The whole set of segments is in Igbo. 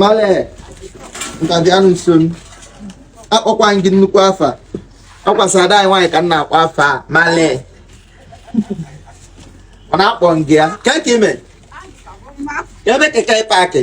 male ntabi anụ nso m akpọkwa m gị nnukwu afa ọ kwa sọ ada anyị nwaanyị ka m na-akpọ afa a male ọ na-akpọ m gị ya ka ka ime ebe keke paakị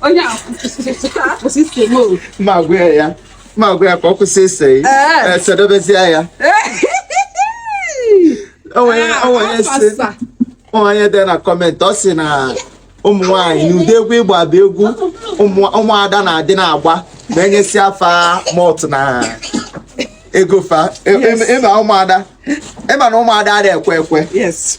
onye a kwụsị ise m o ma gwa ya ya ma gwa ya ka ọ kwụsị ise yi Ee. esedobezie ya onye onye si Afasa. onye dị na kọmentị ọ sị na ụmụ nwaanyị na ụdị egwu ị gba bụ egwu ụmụ- ụmụada na-adị na-agba ma e nyesịa fa malt na ego fa ị ma ụmụada ị ma na ụmụada adịghị ekwe ekwe yes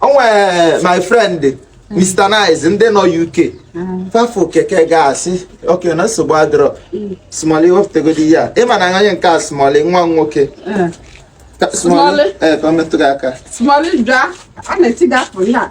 o nwe my friend Mr. Nice ndị nọ UK fa fụ keke ga-asị okay na nsogbu adịrọ smọli wepụtagodi ya ị ma na onye nke a smọli nwa m nwoke smọli ee ka ọ metụ gị aka smọli bịa a na-eti gị afọ ya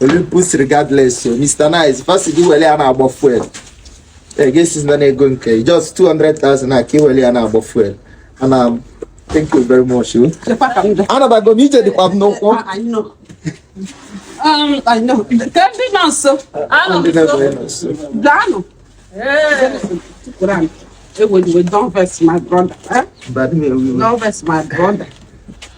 Olympus regardless o Mr. Nice fa sị gị were ya na-agba fuel a ga-asị na ego nke just 200,000 na ka i were ya na-agba fuel ana thank you very much o anabago m ije dịkwa m n'ụkwụ ndị nọ nso daanụ Hey, we don't vex my brother. Eh? Don't vex my brother.